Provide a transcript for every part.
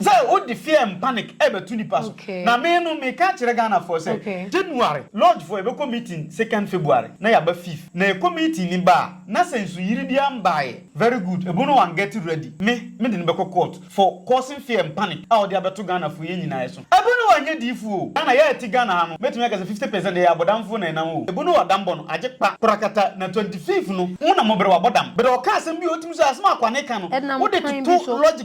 Sɛ wo de fear and panic ɛbɛto nipa so. Na me no me ka kyerɛ Ghana foɔ sɛ January lodge foɔ yɛbɛkɔ meeting second February na yɛaba fifth na yɛkɔ meeting no ba a na sɛ nsuyiri biara mbaeɛ very good ɛbo no wan get ready me me de no bɛkɔ court for causing fear and panic a ɔde abɛto Ghana foɔ yɛn nyinaa ɛso ɛbo no wan nyɛ diifoɔ o Ghana yɛ a ɛte Ghana ha no mɛtumi aka sɛ fifty percent ɛyɛ abɔdamfoɔ na ɛnam o ɛbo no wadam bɔ no agye kpa korakata na twenty fifth no mo na mo brɛ wabɔ dam brɛ ɔka asɛm bi a ɔtumi so asɛm a akwane ka no wo de toto lodge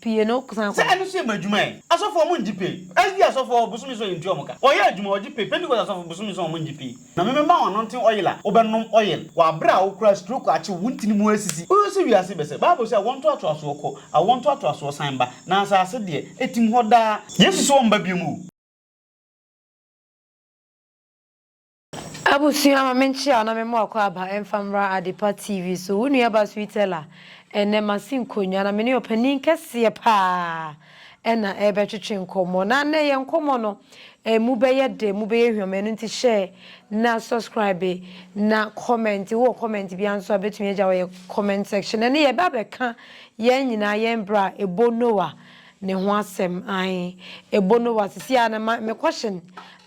Pie no san kɔ. Sɛ ɛno nso yɛ mo adwuma ɛ? Asɔfoɔ ɔmo ngye pay. SDA asɔfoɔ bosome nson yɛntua ɔmo ka. Wɔyɛ adwuma, wɔgye pay. Pentecost asɔfo bosome nson ɔmo ngye pay. Na me mɛma wo anointing oil a wo bɛnom oil wɔ aberɛ a wo kura stroke akye wo, wo ntini mu asisi. Wo hwɛ sɛ wiase bɛsɛ. Bible se awoɔ ntoatoasoɔ kɔ, awoɔ ntoatoasoɔ san ba, na asase deɛ, ɛtim hɔ daa. Yesu se wɔmba biom o. Abusua ma me nkyea na me mo akwaaba ɛmfa mmra Adepa TV so. Wo nua ba Sweet Ella. Ɛnnɛ masi nkonwa na me ne ɔpanin kɛseɛ paa ɛna ɛrebɛtwetwe nkɔmmɔ. Na nnɛ yɛn nkɔmmɔ no ɛmu bɛyɛ dɛ, ɛmu bɛyɛ hwam ɛno nti share na subscribe na comment. Wowɔ comment biara nso a bɛtumi agya wɔ yɛn comment section. Ɛnnɛ yɛba abɛka yɛn nyinaa yɛn bra a ɛbɔ Noah ne ho asɛm ae ebo no wasisi a na ma me question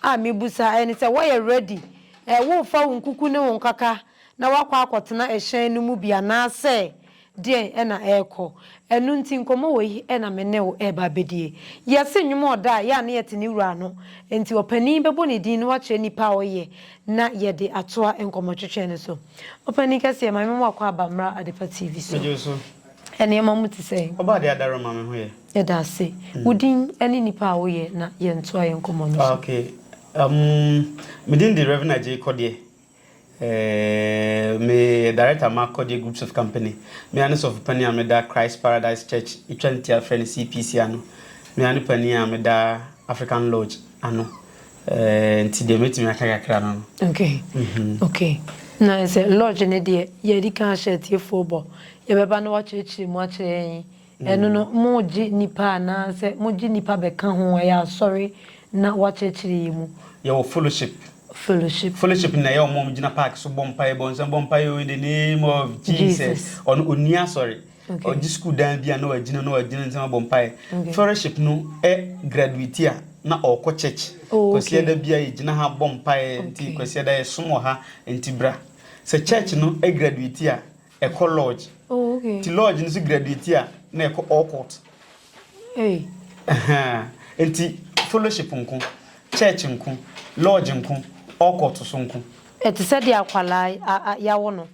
a me busa ne sɛ wɔyɛ ready eh wo refa wo nkuku ne wo nkaka na wakɔ akɔ tena ɛhyɛn no mu bi anaasɛ deɛn ɛna ɛrekɔ ɛno nti nkɔmɔ wɔ yi ɛna me ne wo ɛreba abɛdie yɛse nnwom ɔda a yɛ a na yɛte ne wura ano nti ɔpanin bɛbɔ ne din na wakyerɛ nnipa a ɔyɛ na yɛde atoa nkɔmɔtwetwe no so ɔpanin kɛseɛ maame mo akɔ aba mmra adepa TV so. nneɛma mu te sɛn? Ɔbaa de adaro ma me ho yɛ. Yɛda ase. Wo din ne nipa a woyɛ na yɛntoa yɛn nkɔmmɔ no so. Ok. Um, me din de Reverend Agyei Kɔdeɛ. Eh, me yɛ Director ma Kɔdeɛ Groups of Company. Me ara ne sɔfo panin a me da Christ Paradise Church, etwa ntia frɛ no CPC ano. Me ara ne panin a me da African Lodge ano. Nti deɛ mɛtumi aka kakra no no. Ok ok na sɛ lodge no deɛ yɛadi kan ahyɛ atiefoɔ bɔ yɛbɛba na wakyerɛkyerɛ mu akyerɛ yɛn ɛno no mogye nnipa anaa sɛ mogye nnipa bɛka ho ɛyɛ asɔre na wakyerɛkyerɛ yɛn mu. Yɛwɔ fellowship. Fellowship. Fellowship no na ɛyɛ wɔn a wɔgyina park so bɔ mpaeɛ bɔ nsɛm bɔ mpaeɛ o in the name of Jesus ɔno ɔnni asɔre. Ɔgye sukuu dan bi a na wagyina na ɔde ne nsɛm abɔ mpaeɛ. Fellowship no ɛ graduate a na ɔrekɔ church. Oh, Kwasiada okay. bia yɛgyina ha bɔ mpaeɛ nti Okay. Kwasiada yɛsom wɔ ha nti bra. Sɛ church no ɛ graduate a ɛkɔ lodge. Oh, okay. Nti lodge no nso graduate a na ɛkɔ Orkot. Ei! Ahaa! Enti fellowship nko, church nko, lodge nko, allcourt so nko. Ɛte sɛ deɛ akwadaa a a yɛawo no,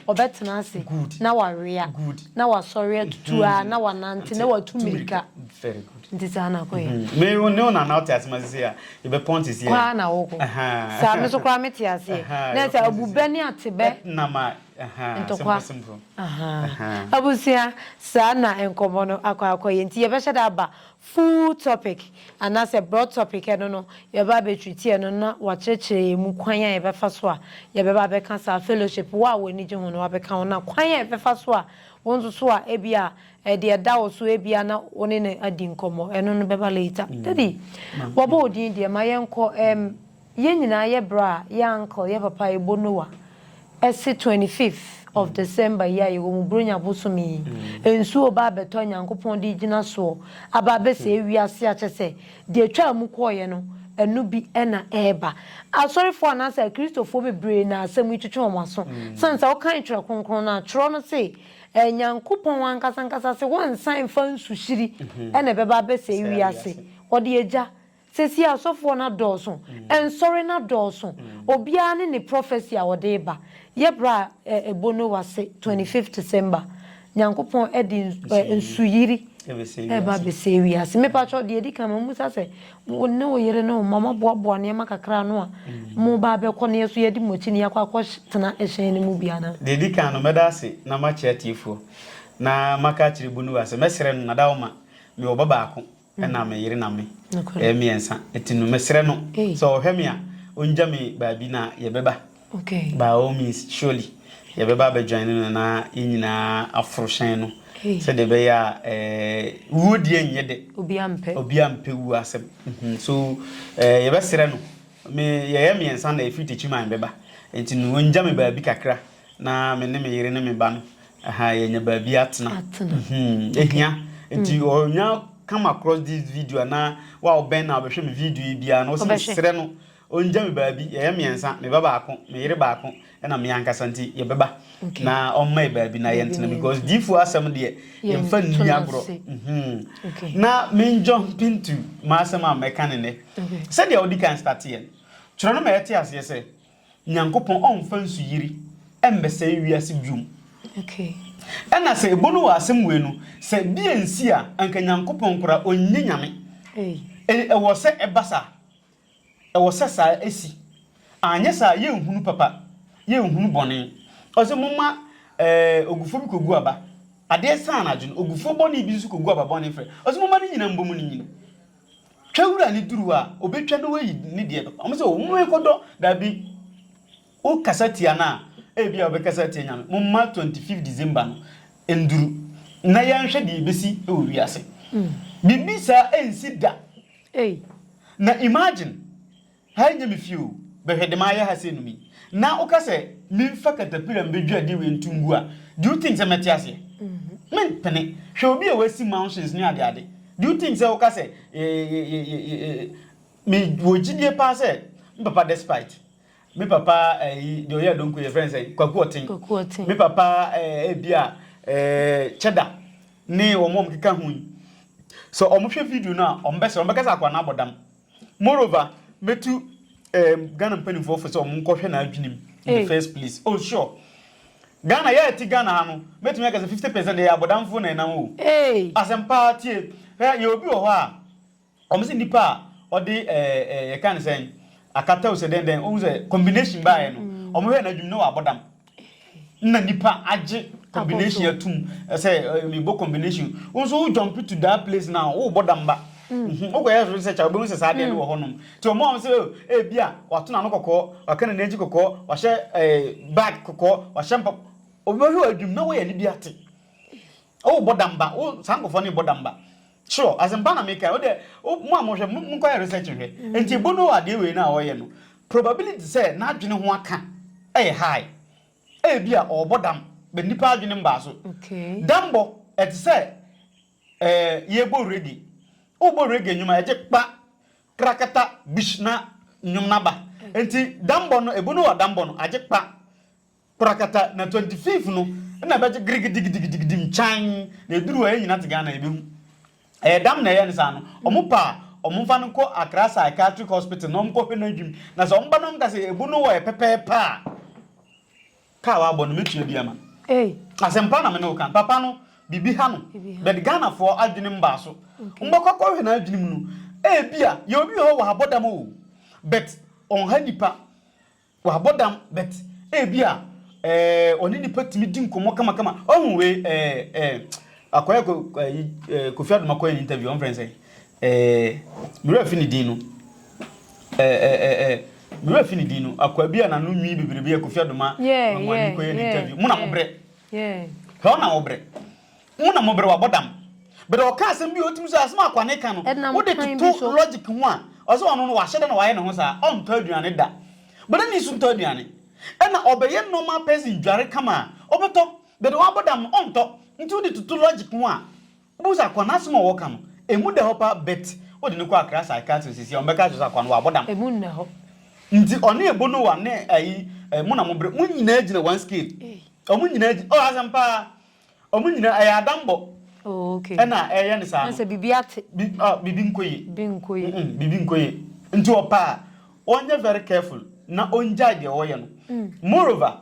ɔbɛtena ase Good. na wawea, Good. na wasɔre atutu ara na wanante na watu Tu mmirika. Very good. Nti saa na kɔ yɛ. Me wo ne wo na na wote ase ma sisi a yɛbɛpɔn nti sisi Kɔ a. ara na wokɔ. Ahaa. Saa me nso koraa mete aseɛ. Ahaa, Na ɛsɛ yɛbɛpɔn sisi. abubɛ ne atebɛ. Ɛtnam a Ntɔkwa abusua saa na nkɔmmɔ no akɔ akɔyɛ nti yɛbɛhyɛ da aba full topic anaasɛ broad topic ɛno no yɛbɛba abɛtreati ɛno na wɔakyerɛkyerɛ yɛn mu kwan a yɛbɛfa so a yɛbɛba abɛka saa fellowship wo a w'ani gye ho no wabɛka ho na kwan a yɛbɛfa so a wo nso so a ebia ɛde ɛda wo so ebia na wo ne no adi nkɔmmɔ ɛno no bɛba later. Daddy, wɔabɔ wo din deɛ ma yɛnkɔ ɛm. Yɛn nyinaa yɛ bra a yɛ uncle yɛ papa ebo Noah ɛse twenty fifth of December yi a yɛwɔ mu Buronya bosome yi nsuo reba abɛtɔ a Nyankopɔn de regyina soɔ aba abɛsɛe wiase a kyɛsɛ deɛ ɛtwaa mu kɔeɛ no ɛno bi na ɛreba. Asɔrefoɔ anaasɛ akristofoɔ bebree na asɛm yi twetwe wɔn aso sane sɛ wokan twerɛ kronkron no a twerɛ no se Nyankopɔn ankasa ankasa se wɔnsan mfa nsuhyiri na ɛbɛba abɛsɛe wiase wɔde agya Seesei asɔfoɔ no adɔɔso, nsɔre no adɔɔso, obiara ne ne prophecy a ɔde reba. Yɛ berɛ a ɛbɔ Noah se 25th December, Nyankopɔn de nsuyiri reba abɛsɛe wiase. Me pa kyɛw, deɛ ɛdi kan, mammisa sɛ, wo ne wo yere ne wo mma, moaboaboa nneɛma kakra ano a moreba abɛkɔ na yɛn nso yɛadi mo akyi na yɛakɔ akɔtena hyɛn no mu bi anaa? Deɛ ɛdi kan no, mɛda ase na makyerɛ atiefoɔ, na maka akyerɛ Bonuwa sɛ, mɛsrɛ no, na dawoma, mewɔ ba baako. ɛna me yere na me. Yɛyɛ mmiɛnsa. Ɛti no, mesrɛ no sɛ ɔhwɛ me a, ɔngya me baabi na yɛbɛba. By all means, surely. Yɛbɛba abɛdwane no na yɛn nyinaa aforo hyɛn no sɛdeɛ ɛbɛyɛ a wuo deɛ nyɛ dɛ. Obiara mpɛ wuo asɛm. So yɛbɛsrɛ no, me, yɛyɛ mmiɛnsa na ɛfiri Techiman bɛba. Ɛti no, ɔngya me baabi kakra Na me ne me yere ne me ba no, ɛha yɛanya baabi atena. Atena. Hmm, ehia. Nti ɔnya come across this video na wa ɔbɛn na ɔbɛhwɛ me video yi biara na ɔsɛ Ɔbɛhwɛ. mesrɛ no ɔngya me baabi yɛyɛ mmiɛnsa me ba baako me yere baako ɛna me ankasa nti yɛbɛba Okay. na ɔmma yɛ baabi na Baabi yɛntena na because yɛntena. diifoɔ asɛm deɛ yɛmfa Yɛnto nni no agorɔ ase. Mhm. Okay. na menjumpi nto m'asɛm a mɛka ne nnɛ Okay. sɛdeɛ wode kan starteɛ no twerɛ no ma yɛte aseɛ sɛ Nyankopɔn ɔmmfa nsuyiri mmɛsɛe wiase biom. Ɛna sɛ ebo no wɔ asɛm wei no, sɛ bi ansi a, anka Nyankopɔn koraa ɔnyɛ Nyame. Ei, ɛwɔ sɛ ɛba saa. Ɛwɔ sɛ saa ɛsi. Anyɛ saa a, yɛnhunu papa, yɛnhunu bɔne. Ɔse momma eh, ogufoɔ bi kɔgu aba. Adeɛ saa anadwo no, ogufoɔ bɔne bi nso kɔgu aba bɔne frɛ. Ɔse momma ne nyina mbɔ mu ne nyini. Twa wura ne duru a, ɔbɛtwa na wayi ne deɛ bɛkɔ. Wɔn sɛ, wɔn rekɔdɔ. Dabi, wokasa tia no a, ebia wobɛkasa atia Nyame. Momma 25 December no nnuru, na yɛnhwɛ deɛ ɛbɛsi wɔ wiase. Biribi saa ɛnsi da. Na imagine, Ha nyɛ me fie o, bɛhwɛ dema ayɛ ha sei no mi. Na woka sɛ menfa katapira mbedwiri adeɛ wei nto ngu a, do you think sɛ mɛte aseɛ? Mempene. Hwɛ obi a wasi mansions ne adeade. Do you think sɛ woka sɛ me wɔ gyidie paa sɛ me papa despite me papa ayi deɛ ɔyɛ adonko yɛfrɛ no sɛn kwaku ɔten me papa ebi a kyɛda ne wɔn a wɔkeka ho yi sɛ wɔhwɛ video no a wɔbɛsrɛ wɔbɛka sɛ akwadaa no abɔ dam Moreover, mɛtu um, Ghana mpanimfoɔ fo sɛ wɔn nkɔhwɛ n'adwenem in the first place. Oh sure. Ghana, yɛ ɛte Ghana ha no, mɛtumi aka sɛ 50 percent ɛyɛ abɔdamfoɔ na ɛnam o. Asɛm paa tie. Hwɛ, yɛ obi wɔ hɔ a, wɔn sɛ nipa a ɔde ɛɛ ɛɛ yɛka ne sɛn akata o sɛ dɛn dɛn, ohun sɛ combination baayɛ no, wɔn hwɛ n'adwenem na wabɔ dam. na nipa agye combination atum sɛ mebɔ combination wo nso wo jump to that place now wobɔ damba wokɔyɛ so sɛ kyɛ wobɛhu sɛ saa deɛ no wɔ hɔnom nti ɔma wɔn sɛ ebi a wato n'ano kɔkɔɔ waka ne n'akyi kɔkɔɔ wahyɛ bag kɔkɔɔ wahyɛ mpa obɛhwɛ wɔ adwum na woyɛ ne bi ate Oh bɔ damba wo saa nkɔfoɔ ne bɔ damba sure asɛmpa na meka wo dɛ mo a mohwɛ monkɔyɛ research nhwɛ nti ebo no adeɛ wei no a ɔyɛ no probability sɛ n'adwene ho aka ɛyɛ high ɛyɛ bi a ɔbɔ dam bɛ nipa adwene mbaa so dambɔ ɛte sɛ ɛɛ yɛbɔ reggae wobɔ reggae nnwuma ɛgye kpa krakata bish na nnwom naba nti dambɔ no ebo no wɔ dambɔ no agye kpa Korakata na twenty fifth no na ɛbɛgye girigidigidigidigidim kyan na ɛduru hɔ yɛn nyina te Ghana yɛbɛhu. Ɛyɛ dam na ɛyɛ no saa no, wɔn pɛ a wɔn mfa no nkɔ Accra Psychiatric Hospital na wɔn kɔ hwɛ no adwim na sɛ wɔn ba na wɔn ka sɛ ɛbu no wɔ yɛ pɛpɛɛpɛ a ka a wabɔ no mɛtua bi ama no. Asɛmpa na me ne wo ka. Papa no biribi ha no but Ghanafoɔ adwene mbaa so. Wɔn bɛkɔ akɔ hwɛ no adwene mu no ɛbia yɛwɔ bi wɔ hɔ wɔ ha bɔ dam oo but wɔn ha nipa. Wabɔ dam but ebi a eh, ɔne nipa tumi di nkɔmmɔ kamakama. Ɔhu wei eh, eh, akɔyɛ ko, eh, eh, Kofi Adoma kɔyɛ ne interview, ɔmfrɛ sɛ eh, mewura fi ne din no. Eh, eh, eh, eh, mewura fi ne din no. Akwa bi a nano nwi bebrebe a Kofi Adoma yeah, ma mo yeah, ani kɔyɛ ne yeah, interview. Mo na yeah, mo brɛ. Yeah. Hɛ ɔna wo brɛ. Mo na mo bere wabɔ dam. But ɔka asɛm bi a otumi so asɛm a kwane ka no Ɛnam wode kwan bi toto so. logic ho a ɔsɛ ɔno no wahyɛ da na wayɛ ne ho saa ɔntɔ aduane da but ɛna nsu ntɔ aduane ɛna ɔbɛyɛ normal person dware kama a ɔbɛtɔ but wabɔ dam no ɔntɔ nti wode toto logic ho a wobɛhu sɛ akwa no asɛm a ɔka no ɛmu da hɔ paa but wode no kɔ akra psychiatrist sisi a ɔmbɛka kyerɛ sɛ akwa no wabɔ dam Ɛmu nna hɔ. nti ɔne ebonowa ne ayi eh, mo na mo bere mo nyinaa gyina one scale Ei. ɔmo nyinaa gyina oh asɛm paa Ɔmo nyinaa ɛyɛ adambɔ ɛna ɛyɛ no saa no. Sɛ bibi ate. Bibi nkɔ yie. Bibi nkɔ yie. Bibi nkɔ yie. Nti ɔpɛ a ɔnyɛ very careful na ɔngyae deɛ ɔyɛ no. Moreover,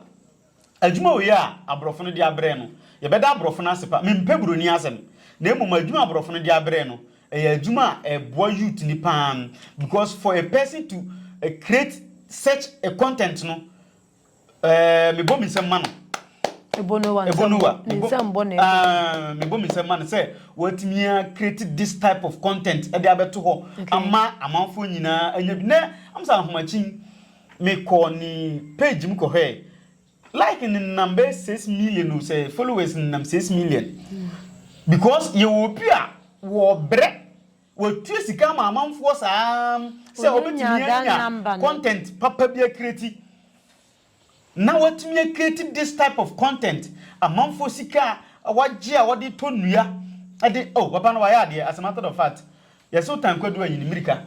adwuma wei a abrɔfo no de abrɛ no, yɛbɛda abrɔfo no ase pa. Mempɛ buroni asɛm. Na mmom adwuma a abrɔfo no de abrɛ no, ɛyɛ adwuma a ɛboa youth no paa because for a person to create such a content no, Ɛɛ mebɔ me nsam ma no. Ebonowa. Ebonowa. Ne nsam bɔ na ɛkɔ. Mebɔ me nsam ma no sɛ wɔatumi a create this type of content ɛde abɛto hɔ ama amanfoɔ nyinaa anya bi. Nɛ amsa ahomakyin mekɔ ne page mu kɔhwɛ like ne nam bɛyɛ six million o sɛ followers ne nam six million because yɛwɔ obi a wɔbrɛ Wɔtua sika ma amanfoɔ saa sɛ wɔbɛtumi anya content papa bi akreati na wɔatumi akreati this type of content, amanfoɔ sika a wɔagye a wɔde tɔ nnua de, oh papa no wayɛ adeɛ as a matter of fact, yɛse wotan kwadu ayi ne mmirika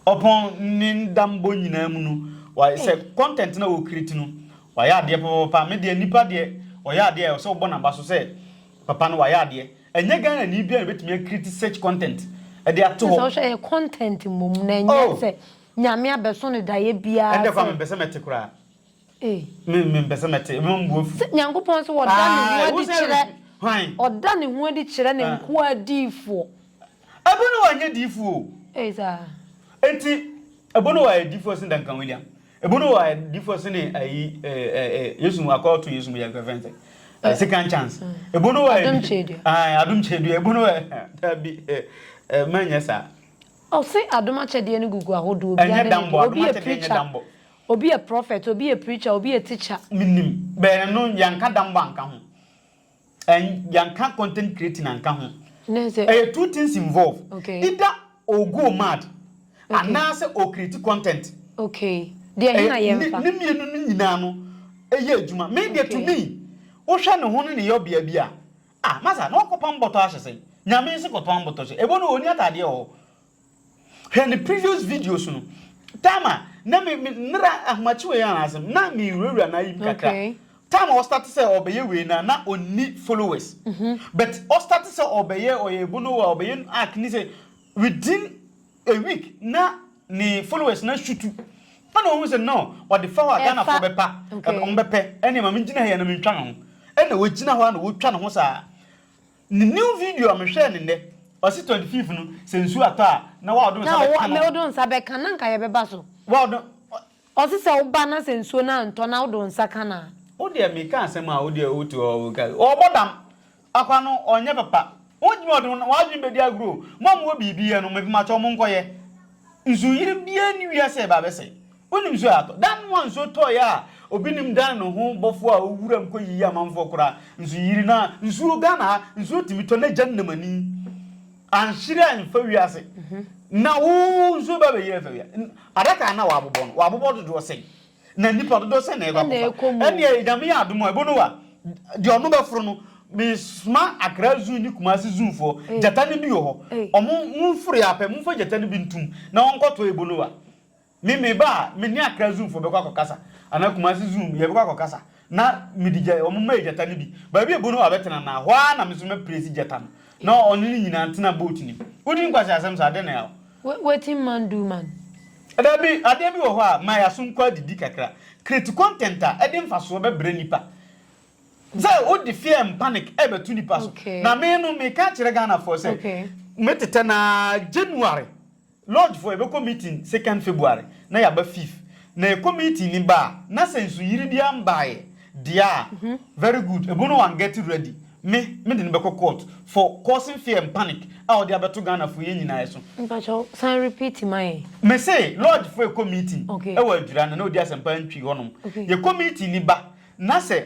ɔpɔn ne ndambɔ nyinaa mu no, sɛ content na wɔkreati no wayɛ adeɛ papapapa, me deɛ nipa deɛ ɔyɛ adeɛ a ɛwɔ sɛ wobɔ n'aba so sɛ papa no wayɛ adeɛ. Ɛnyɛ Ghana ni biara na obetumi a create such content de ato hɔ. Sɛ wohwɛ ɛyɛ content mmom na ɛnyɛ oh! sɛ Nyame abɛso no daeɛ biara sɛ. Ɛnde koraa mempɛ sɛ mɛte koraa. Ee. Me mempɛ sɛ mɛte, ɛbɛma me bo afu. Sɛ Nyankopɔn nso ɔda ne ho adi kyerɛ, ɔda ne ho adi kyerɛ ne nkoa adiyifoɔ. Ebono wa nyɛ diyifoɔ o. Ee saa. Enti Ebono wa yɛ diyifoɔ sen Duncan William. Ebunu wɔ ayɛ difɔ sene ayi Yesu mu akɔ to Yesu mu yɛ kɛfɛn sɛ eh, second chance. Ebunu wɔ adum kyedua. Ah, adum kyedua. Ebunu wɔ dabi eh, eh, mɛnyɛ saa. Ɔse adum akyɛdeɛ no gugu ahodoɔ bi ane ne deɛ obi yɛ preacher obi yɛ prophet obi yɛ preacher obi yɛ teacher. Menim bɛɛ no yɛnka dambɔ anka ho. And yɛanka content creating anka ho. Ɛyɛ two things involve. Either ɔgo mad anaasɛ ɔcreate content. Ne mmienu no nyinaa no yɛ adwuma. Me deɛ to me, wohwɛ ne ho ne ne yɔbea bi a, ah masa na ɔkɔpam bɔtɔ ahyɛ sɛn? Nyame nso kɔtɔn bɔtɔ hyɛ. Ɛbɔ no ɔnni ataadeɛ wɔ hɔ. Hwɛ ne previous videos no. Time a na me me nera ahomakye wei ara asɛm na me wurawura na ayim kakra. Okay. Time a ɔstart sɛ ɔbɛyɛ wei na na ɔnni followers. Mm -hmm. But ɔstart sɛ ɔbɛyɛ ɔyɛ bonowa ɔbɛyɛ arc ni sɛ within a week na ne followers na shutu. Ɛna ɔhu sɛ no ɔde fa hɔ a Ghana fo bɛpa ɔmbɛpɛ ɛne ma me gyina ha yɛ na mentwa ne ho. Ɛna ɔgyina hɔ a na ɔtwa ne ho saa. Ne new video a me hwɛɛ no nnɛ, ɔse twenty fifth no sɛ nsuo atɔ a na wa ɔdo nsa bɛ ka no. Na ɔdo nsa bɛ ka na nka yɛ bɛ ba so. Wa ɔdo. Ɔse sɛ wo ba na sɛ nsuo no antɔ na wo do nsa ka no a. Wo deɛ me ka asɛm a wo deɛ wo te hɔ wo ka. Ɔbɔ dam. Akwa no ɔnyɛ papa. Wo gyimi ɔde wo adwene bɛ di agorɔ o. Mo a mo wɔ biribi yɛ no me pamakyɛw mo nkɔ yɛ. Nsuo yere biara nni wiase a ɛba abɛsɛe. Wonim nsuo a atɔ. Da no a nsuo tɔeɛ a obi nnim dan ne ho bɔfoɔ a ɔwɔ wuram kɔyiyi amanfoɔ koraa nso yiri no a nsuo Ghana ha nsuo tumi tɔ na gya nnam ani anhyere amfa wiase na wo nsuo ba bɛyiri afa wia adaka a na wɔabobɔ no wɔabobɔ dodoɔ sɛn na nnipa dodoɔ sɛn na ɛkɔ Ɛna akɔfa ɛkɔ mu. ɛneɛ nyame yɛ adom a ɛbo no wa deɛ ɔno bɛforo no mesoma akra zoo ne kumase zoofoɔ Ei. gyata no bi wɔ hɔ Ei. ɔmo momforo yɛ apɛ momfa gyata no bi ntom na wɔnkɔtɔ ɛbo no wa Me me ba a me ne akra zoom foɔ bɛkɔ akɔ kasa anaa kumasi zoom yɛbɛkɔ akɔ kasa na me de gya wɔn mɛyɛ gyata no bi baabi ebu no hɔ abɛtena na hɔ ara na me nso mɛ presi gyata no na ɔne ne nyinaa ntena boat nim wodi nkwasi asɛm saa adeɛ na yaw. Wetin man do man. Dabi adeɛ bi wɔ hɔ a ma yɛ aso nkɔ adidi kakra create content a ɛde nfasoɔ bɛbrɛ nipa sɛ wode fear and panic ɛbɛto nipa so na me no meka akyerɛ Ghana foɔ sɛ metetɛ no ara January Lodge foɔ yɛbɛkɔ meeting second February na yɛaba fifth na yɛkɔ meeting ni ba a na sɛ nsuyiri biara mbaeɛ deɛ a very good ɛbo no wɔn get ready me me de no bɛkɔ court for causing fear and panic a ɔde abɛto Ghana foɔ yɛn nyinaa so. Mpakyɛw san repeat ma yɛn. Me se lodge foɔ yɛkɔ meeting ɛwɔ adwira na na ɔdi asɛmpa ntwi hɔ nom yɛkɔ meeting ni ba na sɛ.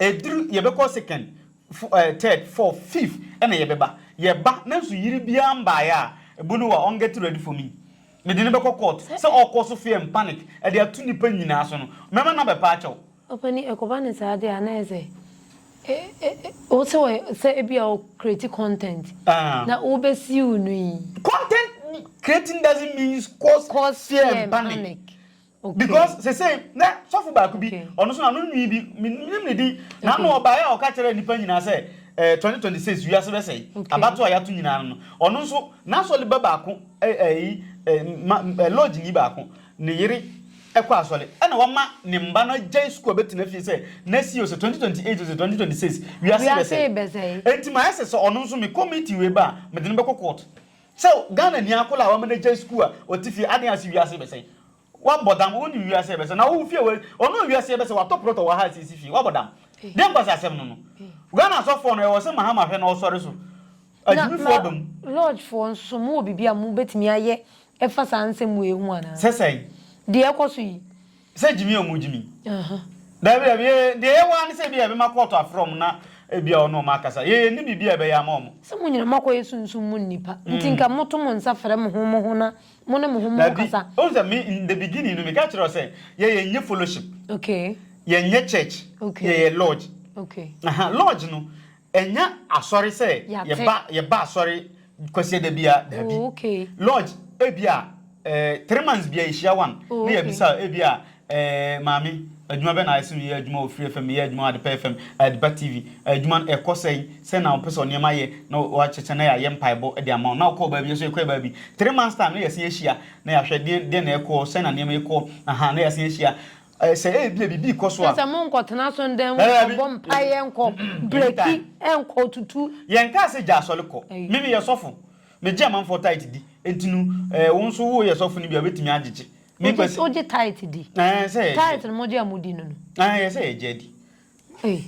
Ɛduru yɛbɛkɔ second, fo ɛɛ third, fourth, fifth ɛna yɛbɛba. Yɛba nanso yere biara mbaeɛ a, Bonuwa ɔn get ready for me. Mede no bɛkɔ court sɛ ɔɔkɔ so fear and panic ɛde ato nnipa nyinaa so no. Mɛma no abɛpa akyɛ wo. Ɔpanin, ɛkɔba no saa deɛ a na ayɛ sɛ e e e wo sɛ wɔ sɛ ebia wo create content Aah. na wobɛsiw no yi. Content creating doesn't means cause, Cause fear and panic. Because sesei na sɔfo baako bi, ɔno nso na no nwi bi, menim ne din, na ano ɔbaeɛ a ɔka kyerɛɛ nnipa nyinaa sɛ eh, 2026 wiase bɛsɛe, abatoɔ a yɛato nyinaa no no, ɔno nso n'asɔre ba baako, eh, eh, eh, ma, eh, lodge ni baako, ne yere ɛkɔ asɔre, ɛna wama ne mma no agyae sukuu a bɛtena fie sɛ nɛsi o sɛ 2028 o sɛ 2026 wiase bɛsɛe. Enti mayɛ sɛ sɛ ɔno nso mekɔ meeting wei ba a, mede no bɛkɔ court. Sɛ Ghana ni akɔla a wama no agyae sukuu a ɔte fie aden ase wiase rebɛsɛe wabɔ dam wonim wiase rebɛsɛe na wowo fie wɔ ɔno wiase rebɛsɛe watɔ plot wɔ ha asiesie fie wabɔ dam deɛ nkwasi asɛm no no Ghana asɔfoɔ no ɛwɔ sɛ Mahama hwɛ na ɔsɔre so agyimifoɔ aba mu. Na lodge foɔ nso mo wɔ biribi a mo bɛtumi ayɛ ɛfa saa nsɛm wei ho anaa? Sɛ sɛn? Deɛ ɛkɔ so yi. Sɛ gyimi ɔmo gyimi. Dabi dabi yɛ deɛ yɛ waa ne sɛ ebi a yɛbɛma kɔɔto afrɛ ɔmo na ebi a ɔne ɔmo akasa. Yɛ yɛ nni biribi a yɛbɛyɛ ama ɔmo. Sɛ mo nyina mo akɔ yɛ sunsum mu nnipa nti nka mo to mo nsa frɛ mo ho mo ho na mo ne mo ho mo nkasa. Dabi ohu sɛ me in the beginning no me ka kyerɛ wo sɛ yɛ yɛ nyɛ fellowship. Okay. Yɛ nyɛ church. Okay. Yɛ yɛ lodge. Okay. Aha lodge no. Ɛnyɛ asɔre sɛ yɛba yɛba asɔre kwasiada bia daabi. Lodge ebia eh, three months bia yɛhyia one na yɛbisa ebia eh, maame adwuma bɛ na ayɛ sɛ meyɛ adwuma wɔ Free FM, meyɛ adwuma wɔ Adepa FM, Adepa TV, adwuma no ɛkɔ sɛn, sɛn na wopɛ sɛ ɔnneɛma ayɛ na wɔakyekyɛ na yɛayɛ mpaebɔ de ama wo na wokɔɔ baabi yɛso yɛkɔɛ baabi three months time na yɛasen ahyia na yɛahwɛ deɛn deɛn na ɛkɔɔ sɛn na nneɛma ɛkɔɔ aha na yɛasen ahyia Ɛ, sɛ ebia biribi rekɔ so Kyerɛ a. sɛ monkɔtena asɔredan mu Daabi. nkɔbɔ mpaeɛ, nkɔ breki, Anytime. nkɔ tutu. Yɛnkaa sɛ gya asɔre kɔ. Ei. Me meyɛ sɔfo. Megye amanfoɔ tithe di. Enti no, ɛɛ, wo nso woyɛ sɔfo no bi a, wobɛtumi agyegye. Wogye, Mekwasi. wogye tithe di? Ɛɛ, ɛsɛ sɛ yɛgye. Tithe no mogye a modi no no. Ɛɛ, ɛsɛ sɛ yɛgye adi. Ei,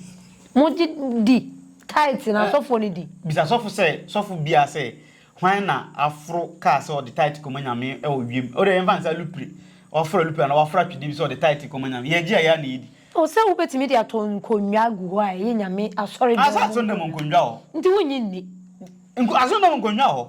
mo gye di, tithe na asɔfoɔ no di. Bisa sɔfo sɛ, sɔfo biara sɛ, hwan na aforo kaa sɛ ɔde tithe kɔma Nyame wɔ wiem? Wode yɛmfa no sɛ alupre, waforo alupre anaa waforo atwedeɛ bi sɛ ɔde tithe kɔma Nyame. Yɛgye a, yɛ a na yɛdi. O, sɛ wobɛtumi de ato nkonnwa agu hɔ a ɛyɛ Nyame asɔredɔm mu nkonnwa. Nti wonnye nni. Asɔredɔm nkonnwa wɔ hɔ.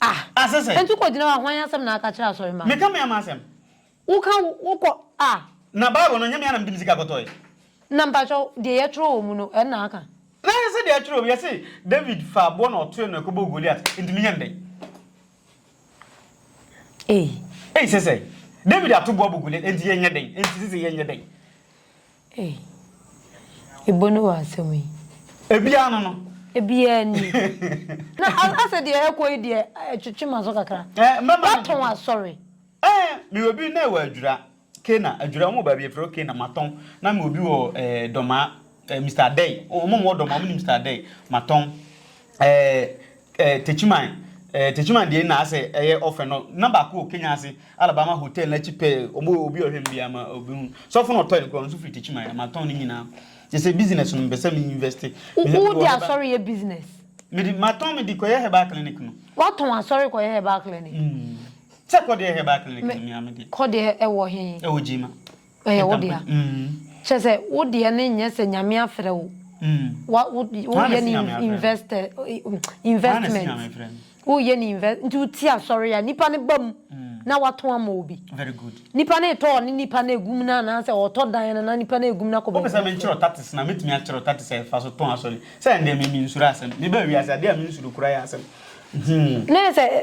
Ah! Ah, sese. Enti wokɔ gyina hɔ a, hwan asɛm na aka kyerɛ asɔremma no? Meka me ama asɛm. Woka wo, wokɔ, ah! Na Bible no, ɛnyɛ me ara na mede me sika kɔtɔe. Na mpakyɛw, deɛ yɛtwerɛ wɔ mu no, ɛno na aka? Na ɛyɛ sɛ deɛ ɛtwerɛ wɔ mu, yɛse, David faa aboɔ na ɔtoe no ɛkɔbɔɔ Goliat, enti menyɛ no dɛn? Ei! Ei, sese. David ato boɔ abɔ Goliat, enti yɛnyɛ dɛn? Enti sese, yɛnyɛ dɛn? Ei. Ibo ne w'asɛm yi. Ebiaa no no. Ebiaa ni. Na asɛ deɛ ɛkɔ yi deɛ ɛtwetwe m'aso kakra. Eh, mɛma no. Watɔn asɔre. Eh, me wɔ bi na ɛwɔ Adwira. Kena, Adwira, wɔn wɔ baabi yɛfrɛ hɔ Kena, matɔn. Na me wɔ bi wɔ eh, Dɔmaa, eh, Mister Adɛi. Wɔn wɔ Dɔmaa, wɔn nim Mister Adɛi, matɔn. Ɛɛ ɛɛ Techiman ɛɛ Techiman deɛ na asɛ ɛyɛ ɔfɛ no na baako wɔ Kenya ase Alabama hotel n'akyi pɛɛ ɔmo obi ɔhwɛ no biara ma obi hu sɔfo na ɔtɔn nkura nso firi Techiman ama tɔn ne nyinaa kyɛ sɛ business no mpɛ sɛ me invest mehwɛ Wo de asɔre yɛ business? Me de ma tɔn me de kɔyɛ herbal clinic no. Wa tɔn asɔre kɔyɛ herbal clinic? Mm sɛ kɔ deɛ herbal clinic no mea me deɛ. Kɔ deɛ ɛwɔ he? Ɛwɔ Gyema. Ɛyɛ wo dea. Kyerɛ sɛ, wo deɛ no nyɛ sɛ Nyame afrɛ wo. Wa, wo, woyɛ no investor, investment. Woyɛ no invest, nti wo ti asɔre a, nipa no ba mu na watɔn ama obi. Nipa no retɔ ɔne nipa no agum no anaasɛ ɔretɔ dan no na nipa no agum no akɔ baabi foforɔ. Wopɛ sɛ menkyerɛ wo tatis na mɛtumi akyerɛ wo tatis a yɛfa so tɔn asɔre. Sɛ ɛndeɛ me, mensuro asɛm. Mebaa wiase, adeɛ a mensuro koraa yɛ asɛm. Hmm. Na yɛ sɛ,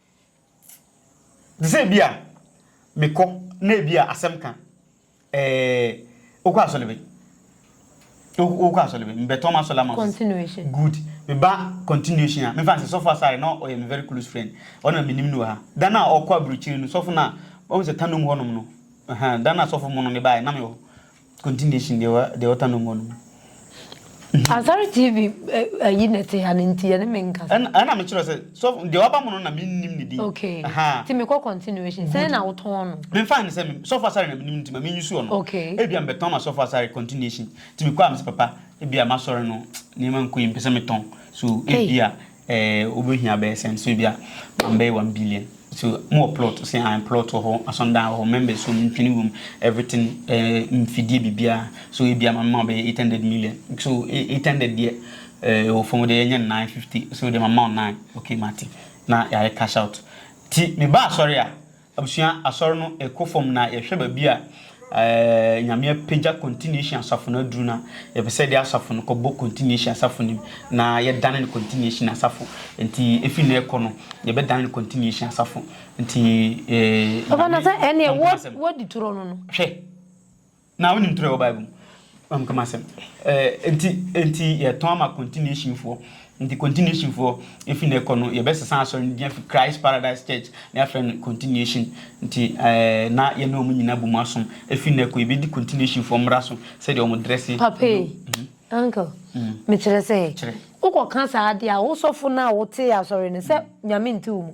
Te sɛ ebia mekɔ na ebia asɛm ka eh, wokɔ asɔre bɛn? Wokɔ asɔre bɛn? Mebɛtɔn m'asɔre ama wo. Continuation. Good. Meba continuation a, memfa nsɛ, Sɔfo Asare na ɔyɛ me very close friend. Ɔno na menim no wɔ ha. Da no a ɔkɔ aburokyiri no, sɔfo no a, wahu sɛ tannom hɔnom no, ɛhɛn, da no a sɔfo mono no baeɛ, na mewɔ hɔ. Continuation deɛ wa deɛ ɔta no mɔ no mu. Asare TV eh, ayi na ɛte ha no nti yɛne me nkasa. Ɛna ɛna me kyerɛ sɛ so deɛ waba mo no na me nnim ne din. Okay. Aha. Ti me kɔ continuation. Sɛn na wotɔn no? Me nfa ne sɛ me sɔfo asare na me nim nti ma me nyusu ɔno. Okay. Ebi a me bɛtɔn ma sɔfo asare continuation. Ti me kɔ a me sɛ papa ebi a masɔre no nneɛma nkɔ yi me pɛ sɛ me tɔn. So ebi a Eh wobɛhia bɛyɛ sɛn so ebia ma mbɛyɛ one billion so mo wɔ plot ɔse ae plot wɔ hɔ asɔndan wɔ hɔ members wɔ mu ntwene wɔ mu everything eh mfidie biribiaa so ebia ma mema wo bɛyɛ eight hundred million so eight hundred deɛ eh ɛwɔ fam deɛ yɛnyɛ no nine fifty so deɛ ma mema wo nine okay mate na yɛayɛ cash out ti meba asɔre a Abusua Asɔr no kɔ famu na yɛhwɛ baabi a Nyame apegya Continuation Asafo no aduru no a, yɛpɛ sɛ yɛde asafo no kɔbɔ Continuation Asafo no mu na yɛdane no Continuation Asafo. Ntsi efi nnɛ rekɔ no, yɛbɛdane no Continuation Asafo. Ntsi, Nyame, Ɔnkoasɛm. Hwɛ! Na wonim toro a ɛwɔ Bible mu. Mam kama asɛm. Eh, nti, nti yɛtɔn ama continuation foɔ. Nti continuation foɔ, efi na ɛkɔ no, yɛbɛsesa asɔre no din afi Christ Paradise Church na yɛafrɛ no continuation. Nti eh, na yɛne wɔn nyinaa bom asom. Efi na ɛkɔ, yɛbɛdi continuation foɔ mmara so, sɛdeɛ wɔn dresse. Papa yi, mhm. uncle, mm. mekyerɛ sɛ, wokɔka saa adeɛ a, wo sɔfo no a wotee asɔre no, sɛ mm. nyame nte wo mu.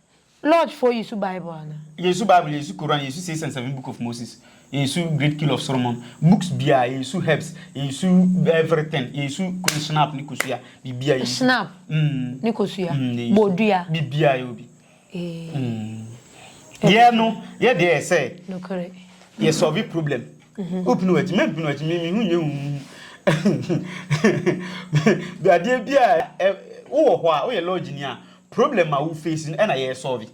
Lodge foɔ yesu bible anaa. Yesu bible yesu koran yesu six and seven book of moses yesu great kill of soromon books biaa yesu herbs yesu everything yesu kunu snap ne kosua bibia yesu snap mm ne kosua mm ne yesu bodua bibia yɛ obi ee mm yɛ no yɛ deɛ yɛ sɛ nokore yɛ solve problem mhm. opinu akyi mɛ mpinu akyi mimi hu nyɛ hu adeɛ bi a wowɔ hɔ a woyɛ lodge ni a Problem a wo face no ɛna yɛ solve.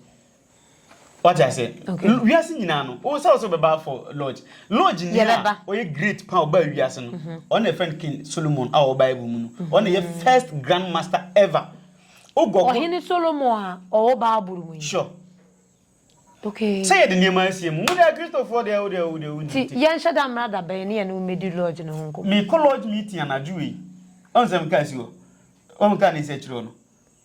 Wate ase? Wiase nyinaa no, wo sɛ wo sɛ bɛba for lodge. Lodge ni a ɔyɛ great pa ɔba wiase no, ɔno na ɛfɛn King Solomon a ɔwɔ Bible mu no. Ɔno na ɛyɛ first grand master ever. Wo gɔgɔ. Ɔhene Solomon a ɔwɔ Bible mu yi. Sure. Okay. Sɛ yɛde nneɛma asie mu, wo deɛ Kristofoɔ deɛ wo deɛ wo deɛ wo nti. Ti yɛnhyɛ da mmra da bɛn ne yɛne wo mmɛdi lodge no ho nkɔmmɔ. Mekɔ lodge meeting anadwo wei. Ɔn sɛ meka asi hɔ. Ɔn meka ne nsa akyiri hɔ no.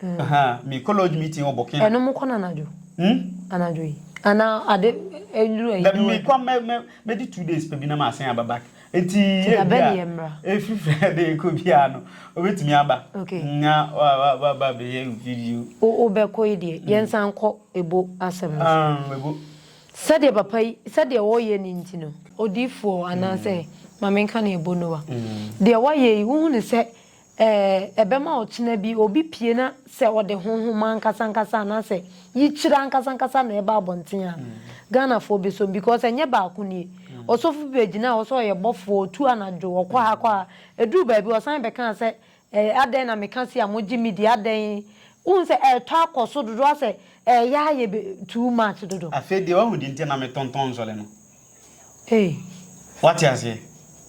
Me kɔ lodge meeting wɔ Burkina. Ɛno mo kɔ no anadwo? Hmm? Anadwo yi. Ana ade ɛduru ɛyi. Dɛm me kɔ mɛ mɛ mɛ di two days pɛ bi na ma asen aba back. Eti yɛ bi a. Efiri fɛ de ekɔ bi a no obetumi aba. Okay. Nya wa wa wa ba bɛ yɛ video. O o bɛ kɔ yi deɛ hmm. yɛn san kɔ ebo asɛm no. Um ebo. Sɛdeɛ papa yi sɛdeɛ ɔyɛ ni nti no. Odiifoɔ anaasɛ hmm. maame nka ne ebo no wa. Hmm. Deɛ wayɛ yi wohu ne sɛ Ɛɛ, ɛbɛma ɔkyena bi obi pue na sɛ ɔde honhom ankasankasa anaasɛ yikyerɛ ankasankasa na ɛba abɔnten a, Ghanafoɔ bɛsɔ mu because ɛnyɛ baako nie. Ɔsɔfo bi bɛgyinaa hɔ sɛ ɔyɛ bɔfoɔ, ɔtu anadwo, ɔkɔ ha kɔ ha. Ɛduruu baabi ɔsan bɛkaa sɛ, Ɛɛ, adɛn na meka sei a mogye me di, adɛn? Wohu sɛ ɛretɔ akɔ so dodo ara sɛ ɛreyɛ ayɛ be too much dodo. Afei deɛ wahu deɛ nti a na metontɔn nsɔre no. Ei. Woate aseɛ?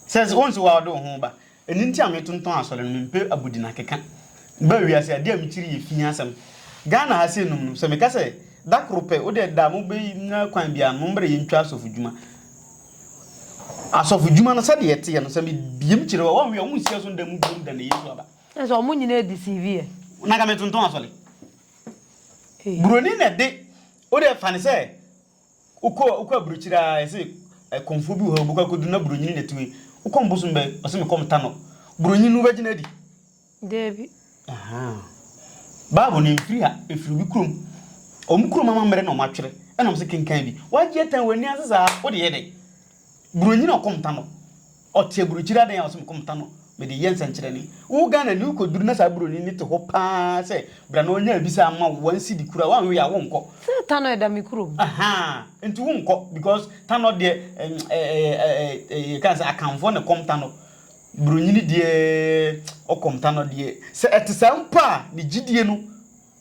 Sɛ, wohu sɛ wo ara wode wo ho ba. Ɛno nti a metontɔn asɔre no, mempɛ abodin akeka ba wiase a, adeɛ a mekyiri yɛ fii asɛm. Ghana ha sei nom no, sɛ meka sɛ da koro pɛ, wo deɛ da mobɛnya kwan biara no, mommrɛ yɛntwa asɔfo dwuma. Asɔfo dwuma no sɛdeɛ ɛteɛ no, sɛ mebiem kyere hɔ a, wɔnwe a, wɔnsi ɛso nda mu biom da na Yesu aba. Kyerɛ sɛ wɔn nyinaa deceive yɛ. Na nka metontɔn asɔre. Buroni na ɛde, wo deɛ fa no sɛ. Wokɔ wokɔ abrokyire aa yɛse ɛkɔmfoɔ bi wɔ hɔ wobɛkɔ akɔduru na bronyini na ɛtumi wokɔm bosom bɛ ɔse me kɔm tanɔ bronyini wobɛgyina adi? Daabi. Ahaa. Bible no ɛmfiri ha ɛfiri obi kurom ɔmo kurom amammerɛ na ɔmo atwerɛ ɛna ɔmo se kenkan bi wagye atan w'ani ase saa wode yɛ dɛn bronyini a ɔkɔm tanɔ Ɔte aburukyire adan a ɔse mekɔ meta no mede yɛ nsɛnkyerɛnne. Wo Ghana ni wokɔduru na saa buroni no te hɔ paa sɛ bra na ɔnya abisa ama wo one cedi koraa woanwe a wonkɔ. Sɛ Tanɔ ɛda me kurom. Ahaa nti wonkɔ because Tanɔ deɛ ɛɛ yɛka sɛ Akanfoɔ na ɛkɔm Tanɔ. Buronyini deɛ ɔkɔm Tanɔ deɛ sɛ ɛte saa mpo a ne gyidie no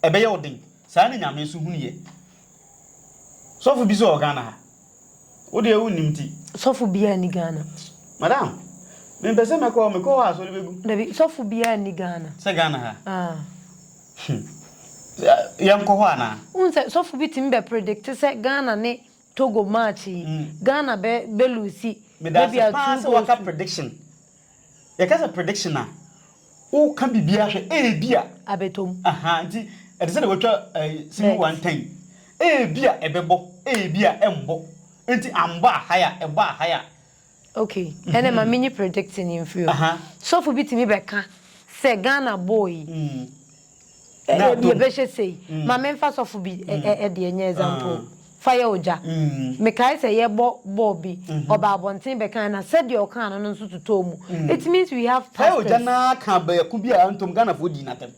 ɛbɛyɛ wo den. Saa na Nyame nso hunu yɛ. Sɔfo bi nso wɔ Ghana ha Wo deɛ wo nim ti. Sɔfo biara ni Ghana. Madam, me mpɛ sɛ mɛkɔ, mekɔ hɔ a sɔre bɛgu. Dabi, sɔfo biara ni Ghana. Sɛ Ghana ha? Ah. Hmm. Yɛn kɔ hɔ anaa? N sɛ sɔfo bi tumi bɛ predict sɛ Ghana ne Togo match yi, hmm. Ghana bɛ bɛ lose. Maybe a two goals. Medase paa sɛ waka prediction. Yɛka sɛ prediction a, woka biribiara hwɛ, ebia. Abɛtɔ mu. Ahaa, nti ɛte sɛ deɛ wɔatwa ɛyi, single one time. Ebia ɛbɛbɔ, ebia ɛmbɔ. Nti ambɔ a, haya, ɛbɔ a, haya. Okay, ɛnna ma menyi predicting yi mfiri hɔ. Aha. Sɔfo bi tumi bɛka sɛ Ghana bɔɔl yi, Ebia bɛhyɛ sei. Ma memfa sɔfo bi deɛ nyɛ example. Fa yɛ ogya. Mekae sɛ yɛbɔ bɔɔl bi, ɔbaa abɔnten bɛkae na sɛdeɛ ɔkaa no no nso totɔɔ mu. It means we have pastors. Fa yɛ ogya no ara ka baako bi a antom Ghanafoɔ dii no atɛm.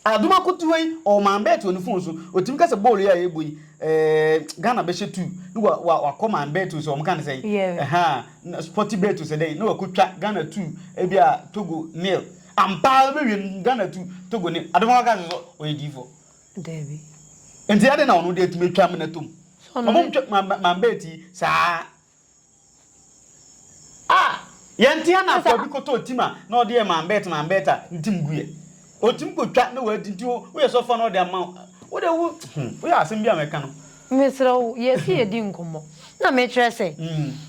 Adom Akotuo yi, ɔwɔ man bet wɔ ne phone so. Ɔtumi ka sɛ bɔɔl yi a yɛbɔ yi, eh, Ghana bɛhyɛ two. Ne wa, wa, wakɔ man bet o sɛ wɔn ka no sɛn. Yeah. Ɛhaa, Sporty bet o sɛ dɛn. Ne wakɔtwa Ghana two, ebia Togo nil. Ampa ara wobɛwie no Ghana tu Togo ni adom ɔka sɛ sɛ ɔyɛ diifoɔ. Dabi. Nti adɛn na ɔno deɛ atumi atwa amena tom? Ɔmom twa mambɛ ti saa. Ah! Yɛntea na akoa bi kɔtɔɔ tim a na ɔde yɛ mambɛt mambɛt a ntim guiɛ. Ɔtumi kɔtwa na wadi nti woyɛ sɛ ɔfa na ɔde ama wo. Wode wo hmm woyɛ asɛm bi a mɛka no. Mesrɛ wo yɛsi yɛdi nkɔmmɔ na mekyerɛ sɛ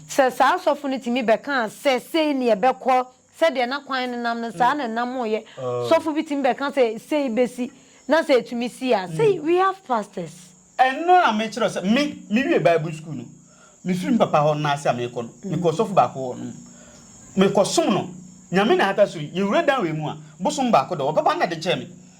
sɛ saa sɔfo no tumi bɛkaa sɛ sei ne ɛbɛkɔ Sɛdeɛ na kwan no nam no, saa na ɛnamoeɛ. Sɔfo bi tumi bɛka sɛ, Sei bɛsi, na sɛ ɛtumi si a, sei, we have pastors. Ɛno na mekyerɛ wo sɛ, me, mewie Bible sukuu no, mefiri me papa hɔ no na ase a merekɔ no, mekɔɔ ɔsɔfo baako hɔ nom. Mekɔsom no. Nyame na ahata so yi, yɛwura dan wei mu a, bosom baako dɔ, ɔbɛba na de kyɛɛ me.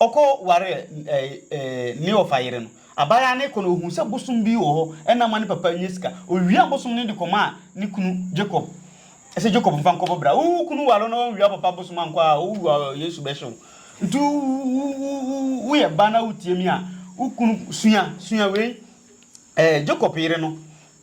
Ɔkɔ waree Kleofa yere no. Abaayaa no rekɔ no, ohuu sɛ bosom bi wɔ hɔ na ama ne papa anya sika. Owiaa bosom no de kɔmaa ne kunu Jacob sɛ, Jacob mfa nkɔ bɛbra. Wo kunu ware wo na wanwia wo papa bosom ankɔ a, owu a Yesu bɛhye wo. Nti woyɛ ba na wutie me a, wo kunu sua, sua wei. Jacob yere no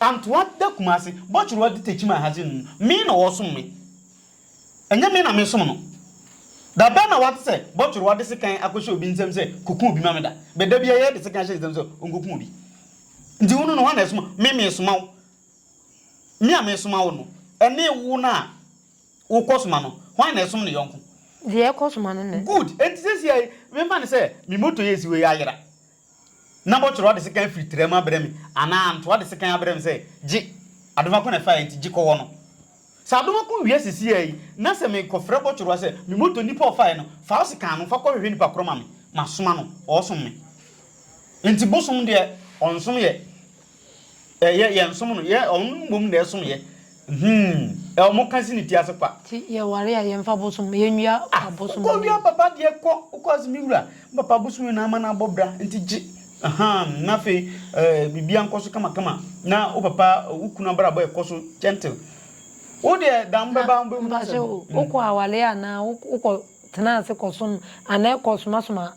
Antoa da Kumase, Bɔkyerwa di Tekyim Ahase no mu. Me na ɔresom me. Ɛnyɛ me na meresom no. Da bɛn na woate sɛ Bɔkyerwa de sekan akɔhyɛ obi nsam sɛ, Kɔku obi ma me da? Bɛ da biara yɛde sekan hyɛ ne nsam sɛ ɔnkɔku obi. Nti wo no no, hwan na ɛsoma? Me meresoma wo. Me a meresoma wo no, ɛne wo no a wokɔsoma no, hwan na ɛsom ne yɔnko? Deɛ ɛkɔsoma no na ɛsom. Good! Enti seesei mema no sɛ me moto yi a ɛsi hɔ yi ayera. na bɔtɔrɔ ade sekan afiri tra mu abrɛ me, anaa ntoa ade sekan abrɛ me sɛ, Gye, adomako na ɛfaeɛ nti, gye kɔ hɔ no. Sɛ adomako wia sisiaa yi, na sɛ mekɔfrɛ bɔtɔrɔ sɛ, Me moto nipa a ɔfaeɛ no, fa wo sekan no, fa kɔhwehwɛ nipa korɔ ma me, masoma no, ɔɔsom me. Nti bosom deɛ, ɔnsom yɛ. Ɛ yɛ yɛ nsom no yɛ ɔno no mmom na ɛsom yɛ hmm ɛ ɔmo ka se ne ti ase kwa. Ti yɛ ware a yɛ nfa bosom yɛ nwia ah bosom wokɔ wia papa deɛ kɔ wokɔ ase me wura me papa bosom yɛ na ama no abɔ bra nti gye ahaa na afei eh bibia nkɔ so kama kama na wo papa wo kunu abrabɔ ɛkɔ so gentle wo deɛ da mo bɛba mo bɛ hu asɛm. Mpakyɛw wokɔ aware anaa wokɔ tena ase kɔ som anaa ɛkɔ soma soma.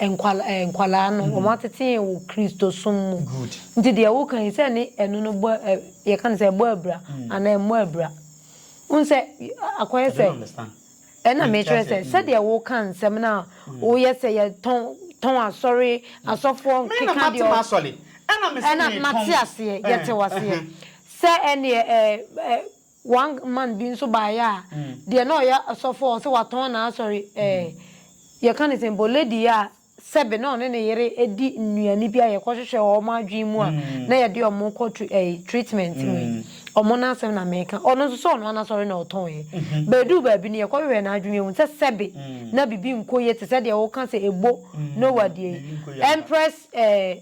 Nkwalaa nkwadaa no, wɔn atete yɛn wɔ Kristosom mu. Good. Nti deɛ woka yi, sɛ ɛne ɛno no bɔ ɛ, yɛka no sɛ ɛbɔ abira anaa ɛmmɔ abira. Wohu sɛ, akɔyɛ I sɛ, don't understand. ɛna Menkyerɛ mekyerɛ sɛ, sɛ, sɛdeɛ woka nsɛm no a, woyɛ sɛ yɛtɔn tɔn asɔre, asɔfoɔ Me na nkeka mate deɛ ɔ, m'asɔre. Ɛna me sɛ ɛna mate meretɔn. aseɛ, yɛte wo aseɛ. Ɛhɛn. Sɛ ɛneɛ ɛ, ɛ, One man bi nso baeɛ a, deɛ na ɔyɛ ɔsɔfoɔ a ɔse watɔn n'asɔre eh, yɛka no sɛn mpo, lady a sɛbe na ɔne ne yere di nnuane bi a yɛkɔhwehwɛ wɔ wɔn adwene mu a na yɛde wɔn kɔ tr eh treatment mu yi, wɔn n'asɛm na meka, ɔno nso sɛ ɔno ara n'asɔre na ɔtɔnɛ. But ɛduu baabi no yɛkɔhwehwɛɛ n'adwene mu yɛhu sɛ sɛbe na biribi nkɔ yie te sɛ deɛ woka sɛ ɛbo Noah deɛ yi, Empress eh,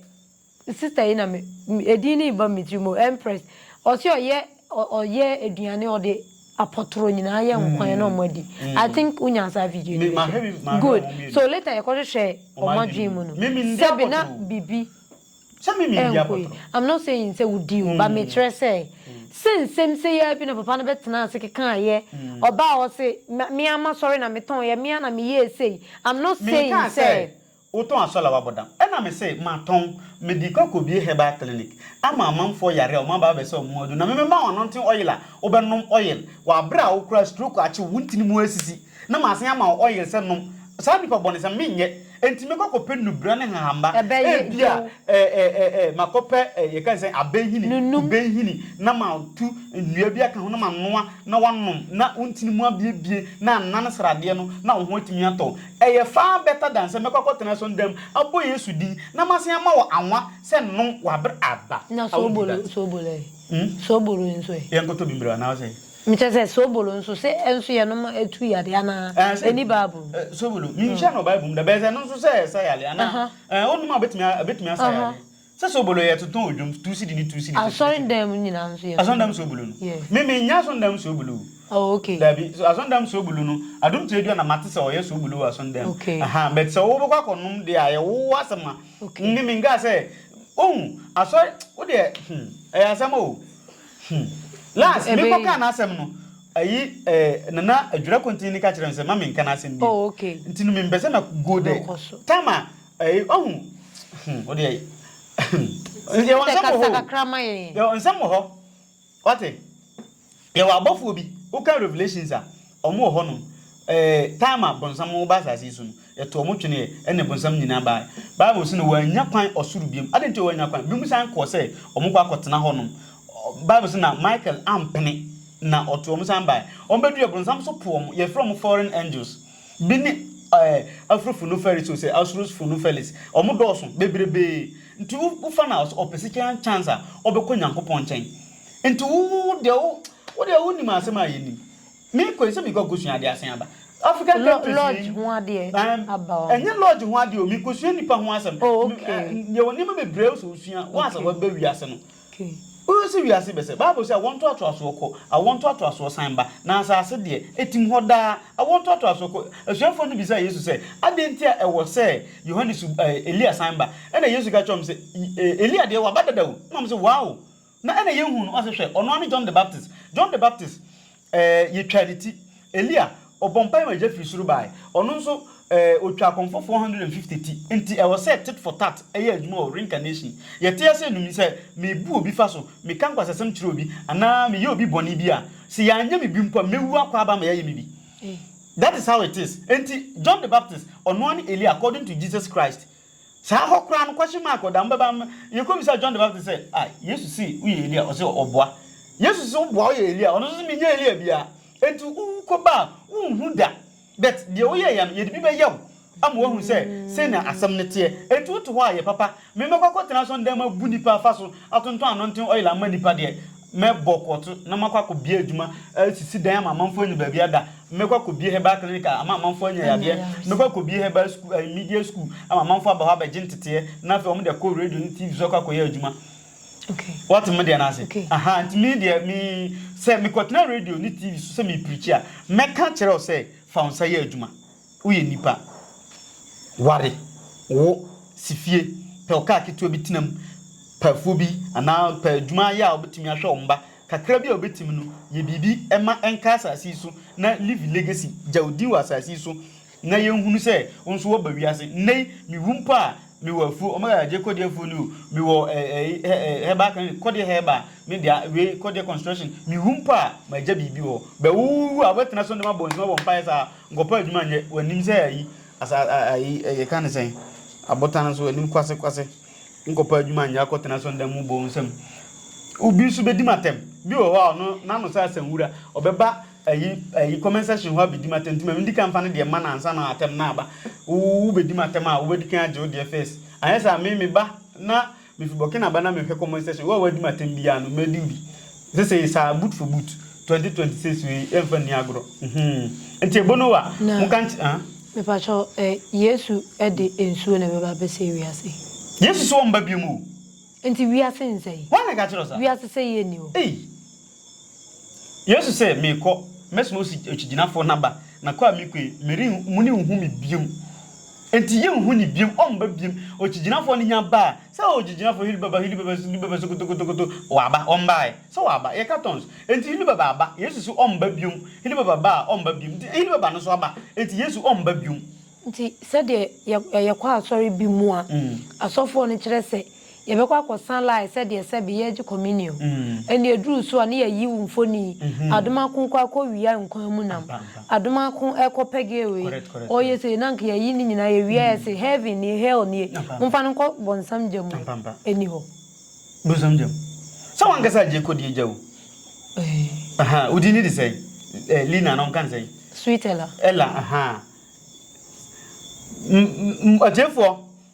Sister yi na me edin no reba me tiri mu, Empress. Ɔse ɔyɛ ɔyɛ aduane ɔde apɔtoro nyinaa yɛ nkwan na ɔmo adi. I think wo nyaa saa video no bi so. Good. So later yɛkɔ hwehwɛɛ ɔmo adwene mu no, sɛbi na bibi ɛnkɔ yie. I'm not saying sɛ wo di o, but me kyerɛ sɛ, sɛ nsɛm sei ara bi na papa no bɛ tenaa ase kekaa yɛ, ɔbaa ɔse me ara ma sɔre na me tɔn yɛ, me ara na me yɛɛ sei. I'm not saying sɛ. Wotɔn asɔr a wɔabɔ dam? Nna mese, Matɔn. Mede kɔ akobue herbal clinic ama amamfoɔ yare a wɔaba abɛsa wɔn mu adu, na memema wo anointing oil a wobɛnom oil wɔ aber a wo koraa stroke akye wo, wo ntini mu asisi, na masan ama wo oil sɛ nom. Saa nnipa bɔnesɛm, menyɛ. Enti mekɔ kɔpɛ nnubura ne nhahamma. Ebia makɔpɛ yɛka ne sɛn, abɛnhini, kubɛnhini, na matu nnua bi aka ho na manoa na woanom na wo ntini mu abuebue na anan sradeɛ no na wo ho atumi atɔ wo. Ɛyɛ far better than sɛ mɛkɔ akɔtena so nda mu abɔ Yesu din na masan ama wo anwa sɛ nom w'aber aba. Na I won't do soobolo that. soobolo ɛ? Hmm? Soobolo yi nso ɛ? Yɛnkɔtɔ bi mbrɛ anaa ɔsɛ? Mekyerɛ sɛ soobolo nso, se ɛnso yɛnom a ɛtu yare anaa? Ɛɛ sɛ, Ɛnni Bible mu. ɛɛ, soobolo, menhyiaa no wɔ Bible mu da, bɛyɛ sɛ ɛno nso sɛ ɛsa yare anaa? Aha. Ɛɛ, wonom a obetumi a, obetumi asa Aha. yare. Sɛ soobolo yɛ totɔn odwom two cedi ne two cedi titititi. Asɔrendam mu nyinaa nso yɛ soobolo. Asɔrendam soobolo no. Yeah. Me me nya asɔrendam soobolo o. Oh okay. Dabi so asɔrendam soobolo no adum kyerɛ dua na ma te sɛ ɔyɛ soobolo wɔ asɔrendam. Okay. Aha but sɛ wo bɛ kɔ akɔ nom deɛ a yɛ wo wo asɛm a. Okay. Me me nka sɛ ohu asɔre wo deɛ hmm ɛyɛ asɛm o hmm last me kɔ kaa n'asɛm no ayi eh nana adwira kontin ni ka kyerɛ me sɛ ma me nka n'asɛm bi. Oh okay. Nti no me mpɛ sɛ mɛ go there. Time a. Ɛyi ɔhu hmm o deɛ hmm yɛwɔ nsɛm wɔ hɔ o yɛwɔ nsɛm wɔ hɔ wate yɛwɔ abɔfoɔ bi woka revelations a wɔn wɔ hɔ nom ɛɛ eh, time a bɔnsam ba asase yi so no yɛto wɔn twene yɛ ɛna bɔnsam nyinaa baa bible sɛ no wɔanya kwan ɔsoro biom adan ti wɔanya kwan biom san kɔɔ sɛ wɔn kɔ akɔtena hɔ nom bible sɛ na michael ampene na ɔto wɔn san baa wɔn bɛdu yɛ bɔnsam so po wɔn yɛfrɛ wɔn foreign angels Bi ne ɛɛ Afrofunuferis o sɛ Asurusfunufelis. Wɔn dɔɔso bebrebee. Nti wo wo fa no a ɔsɛ ɔpɛ sika chance a ɔbɛkɔ Nyankopɔn nkyɛn. Nti wo wo wo deɛ wo wo deɛ wo nim asɛm a yɛ nim. Me kɔ yi sɛ me kɔ kosua adeɛ asen aba. African Lɔ countries yi lodge ho adeɛ ɛɛm aba hɔ. Ɛnyɛ lodge ho adeɛ o me kosua nipa ho asɛm. Oh Me okay. ɛɛ yɛ wɔ nneɛma bebreɛ a ɔsɛ osua once a Okay. waba wiase no. Ke. Wohwɛ sɛ wiase bɛsɛe. Bible se awoɔ ntoatoasoɔ kɔ, awoɔ ntoatoasoɔ san ba, na asase deɛ, etim hɔ daa. Awoɔ ntoatoasoɔ kɔ. Asuafoɔ no bisaa Yesu sɛ, Adɛn nti a ɛwɔ sɛ Yohane su, ɛɛ, Elia san ba? Ɛnna Yesu ka kyerɛɛ wɔn se, E, Elia deɛ, waba dada o. Ɛnna wɔn se, Wow! Na ɛnna yɛnhuu no. Ɔse, Hwɛ, ɔno ara ne John the Baptist. John the Baptist. Ɛɛ, yɛtwaa ne ti. Elia, ɔbɔɔ mpae ma egya firi soro bae. Ɔno nso, ɛɛ, ɔtwaa akɔmfoɔ 450 ti. Enti, ɛwɔ sɛ tit for tat yɛ adwuma wɔ reincarnation. Yɛte ase anum yi, sɛ mebu obi fa so, meka nkwasasɛm kyerɛ obi, anaa meyɛ obi bɔne bi a, sɛ yɛanyɛ me bi mpo a, mɛwu akɔ aba ama yɛayɛ me bi. That is how it is. Enti, John the Baptist, ɔnoaa ne Elia according to Jesus Christ. Saa hɔ koraa no, kwahye maa akɔdaa, Mobɛba mmɛ. Yɛn kɔbisaa John the Baptist sɛ, Ah, Yesu se woyɛ Elia? Ɔse, Ɔboa. Yesu se woboa, woyɛ Elia? Ɔno nso se, Menyɛ Elia biara. Enti wo wokɔba a, wonhu da. But deɛ woyɛeɛ no, yɛde bi bɛyɛ wo ama woahu sɛ sɛnea asɛm no teɛ. Enti wote hɔ a, yɛ papa. Memmɛkɔ akɔtena asɔredan mu abu nnipa afa so, atontɔn anonten oil amma nnipa deɛ, Mɛbɔ korɔto na makɔ akɔbie adwuma asisi dan ama amanfoɔ anya baabi ada. Mɛkɔ akɔbie herbal clinic a ama amanfoɔ anya yadeɛ. Mɛkɔ akɔbie herbal school, eh, media school ama amanfoɔ aba hɔ abɛgye nteteɛ na afei wɔn de akɔ radio ne TV so akɔ akɔyɛ adwuma. Okay. Wɔte me deɛ no ase. Okay. Aha, nti me deɛ me sɛ mekɔtena radio ne TV so sɛ mepirikyi a mɛka kyerɛ wo sɛ fa wo nsa yɛ adwuma. Woyɛ nipa. Ware, wo, si fie, pɛ ɔkaa ketewa bi tena mu, pɛ afuo bi anaa pɛ adwuma yɛ a wobɛtumi ahwɛ wo mma kakra bi a wobɛtumi no, yɛ biribi ma ɛnka asase yi so na leave a legacy, gya wo din wɔ asase yi so na yɛnhunu sɛ wo nso woaba wiase. Nnɛ yi, mewu mpo a, mewɔ afuo, Omega Adjei Kɔdeɛ afuo ni o, mewɔ herbal clinic, Kɔdeɛ Herbal, me dea, wei Kɔdeɛ Construction, mewu mpo a, magya biribi wɔ hɔ. Bɛ, wowu a, wobɛtena so ne mabɔ nsɛm abɔ mpaeɛ saa? Nkɔpɛ adwuma nyɛ. Wɔnim sɛ ayi, asa, a, ayi, ɛ, yɛka ne sɛn? Abotan no so, wɔnim kwase, kwase. Nkɔpɛ adwuma nyɛ, akɔtena asɔredan mu bɔ nsam. Obi nso bɛdi m'atɛm. Bi wɔ hɔ a, ɔno, n'ano sɛ asanwura. Ɔbɛba ayi, ayi, comment section hɔ abɛdi m'atɛm, nti ma mendi kan mfa ne deɛ mma no ansa na atɛm no aba. Wo, wobɛdi m'atɛm a, wobɛdi kan agye wo deɛ first. Anyɛ saa a, me, meba na Mifi Burkina ba na me hwɛ comment section, wo a w'adi me atɛm biaa no mɛdi wo bi sesei saa boot for boot 2026 wei yɛ nfa nni agorɔ mhmm nti ebono wa mo ka nky ah. Mepakyɛw ɛ Yesu de nsuo na ɛbɛba abɛsɛe wiase yi. Yesu se ɔmba biom o. Nti wiase nsɛe. Woana ka kyerɛ wo saa. Wiase sɛeɛ nni hɔ. Ei. Yesu se, Merekɔ, mɛsoma okyigyinafo no aba, na kɔ a mekɔ yi, meren, morenhu me biom. Enti yenhu no biom, ɔmba biom. Okyigyinafo no nya baa, sɛ, Oh, okyigyinafo, Hili Baba, Hili Baba, Hili Baba, sokotokotokoto, waba, ɔmbae. Sɛ waba, yɛka tons. Enti Hili Baba aba. Yesu se ɔmba biom. Hili Baba baa, ɔmba biom. Enti Hili Baba no nso aba. Enti Yesu ɔmba biom. Nti sɛdeɛ yɛkɔ asɔre bi mu a, asɔfoɔ no kyerɛ sɛ. Yɛbɛkɔ akɔsa line sɛdeɛ sɛbe yɛregye communion. Ɛnna ɛduruu so a, na yɛayiw mfoni. Adomako rekɔ akɔwia nkwan mu nam. Adomako rekɔ pɛgɛɛ wei, ɔreyɛ sei. Na anka yɛayi ne nyinaa, yɛwie a yɛse, Heaven nie, hell nie, momfa no nkɔ bɔnsam gya mu. Ɛnni hɔ. Bonsam gya mu. Sɛ w'ankasa agye kɔ deɛ gya o. Aha, wo din ne de sɛn? Eh, Lina anaa wɔka no sɛn? Sweet Ella. Ella, aha. M, m, m, atiefoɔ.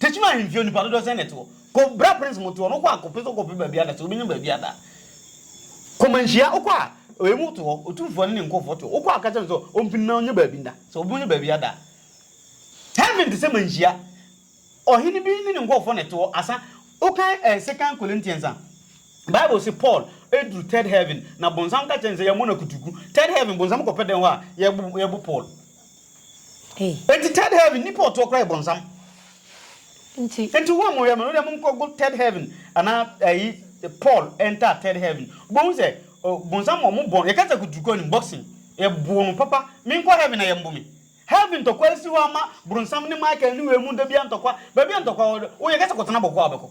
Techiman ahemfie nnipa dodoɔ sɛn na ɛte hɔ? Kɔ bra prince mote hɔ no wokɔ a kɔpɛ sɛ wokɔpɛ baabi ada sɛ wobɛnya baabi ada kɔ manhyia wokɔ a emu te hɔ otumfoɔ ne ne nkɔfoɔ te hɔ wokɔ a ka kyerɛ no sɛ ɔmpini na ɔnyɛ baabi nda sɛ wobɛnya baabi ada heaven te sɛ manhyia ɔhene bi ne ne nkɔfoɔ na ɛte hɔ asa wokan eh, second Corinthians a Bible se Paul ɛduru third heaven na bonsam ka kyerɛ no sɛ yɛmmɔ no akutuku third heaven bonsam kɔpɛ dɛn hɔ a yɛbo Paul Ei. Enti third heaven nnipa ɔtoɔ koraa yɛ bɔnsam. Nti. Enti wo a mo yɛ mo no deɛ mo nkɔ go third heaven anaa ɛyi Paul enter third heaven wo bɛ hu sɛ bɔnsam ɔmo bɔ yɛ kasa kutu kɔ anim boxing yɛ bɔ no papa me nkɔ heaven na yɛ mbo me heaven ntɔkwa esi hɔ ama bronsam ne Michael ne wei mu da bia ntɔkwa baabi a ntɔkwa wɔ wo yɛ kasa kɔ tena bɔkɔ a wobɛkɔ.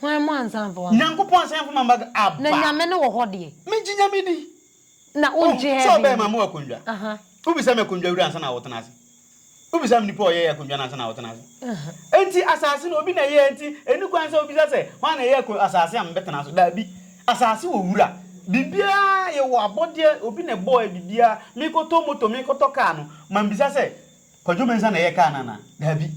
Hwan mu ansa mfa w'aba. Nyankopɔn ansa mfa m'aba aba. Na Nyame no wɔ hɔ deɛ. Me gye Nyame di. Na wo ngye heaven. Sɛ ɔbɛɛ ma mo akondwa. Wo bisa me akondwa wura ansa na wo tena ase. Wo bisa me nipa ɔyɛ yɛ akondwa no ansa na wo tena ase. Enti asase no obi na ɛyɛ enti ɛni kwan sɛ wo bisa sɛ hwan na ɛyɛ asase a me bɛ tena so daabi. Asase wɔ wura. Biribiara yɛ wɔ abɔdeɛ obi na ɛbɔɔ yɛ biribiara. Me kɔ tɔ moto me kɔ tɔ car no ma me bisa sɛ. Kwadwo Mensah na ɛyɛ kaa no anaa? Daabi.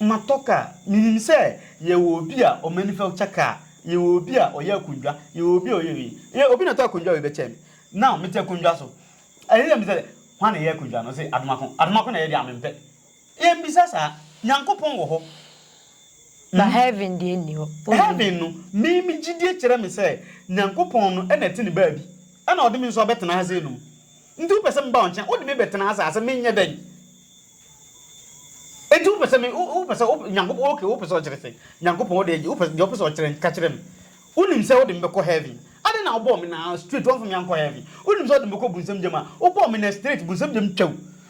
Matɔ kaa. Menim sɛ yɛwɔ obi a ɔmanufacture kaa, yɛwɔ obi a ɔyɛ akondwa, yɛwɔ obi a ɔyɛ wei. Yɛ, obi na ɔtɔ akondwa wei bɛkyɛɛ me. Now, mete akondwa so. Ɛyɛ sɛ mebisa sɛ, Hwan na ɛyɛ akondwa no? Ɔse, Adomako. Adomako na ɛyɛ deɛ a, mempɛ. Yɛmmisa saa. Nyankopɔn wɔ hɔ. Na heaven deɛ nni hɔ. Wonni. Heaven no, me, me gyidie kyerɛ me sɛ Nyankopɔn no na ɛte ne baabi. Ɛna ɔde me nso abɛtena ha sei nom. Nti wopɛ sɛ meba wo nkyɛn, wode me bɛtena ase a, sɛ menyɛ dɛn? Nti wopɛ sɛ me, wo, wopɛ sɛ, wopɛ, Nyankopɔn, okay, wopɛ sɛ ɔkyerɛ sɛ, Nyankopɔn, wode agye, wopɛ, deɛ wopɛ sɛ ɔkyerɛ no, ka kyerɛ me. Wonim sɛ wode me bɛkɔ Heaven. Adɛn na wobɔɔ me na, straight, woamfa me ankɔ Heaven? Wonim sɛ wode me bɛkɔ Bunsam gyam a, wobɔɔ me na, straight, Bunsam gyam twa o.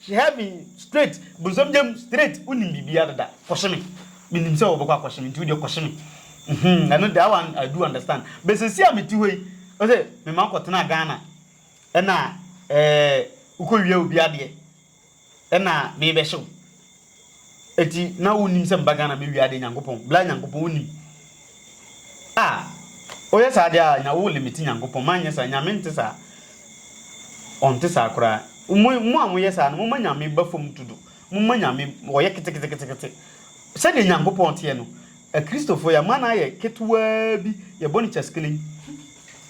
She held me straight, bonsam gya mu straight, wonim biribiara dada, kɔhye me, menim sɛ wɔbɛkɔ akɔhye me nti wodeɛ kɔhye me, uhmm ɛno that one I do understand, but seesei a mete hɔ yi, ɔse mema wokɔtenaa Ghana ɛna ɛɛɛ wokɔwia obi adeɛ ɛna merebɛhye wo. Eti na wo nim sɛ meba Ghana mɛ wiade Nyankopɔn bla Nyankopɔn wo nim ah oyɛ saa deɛ ah nya wo limiti Nyankopɔn ma nyɛ saa Nyame nte saa ɔnte saa koraa mo mo a mo yɛ saa no mo ma Nyame ba fam dodo mo ma Nyame ɔyɛ keteketekete sɛdeɛ Nyankopɔn teɛ no Akristofoɔ yɛ ama no ayɛ ketewaa bi yɛ bɔ no kyaskelen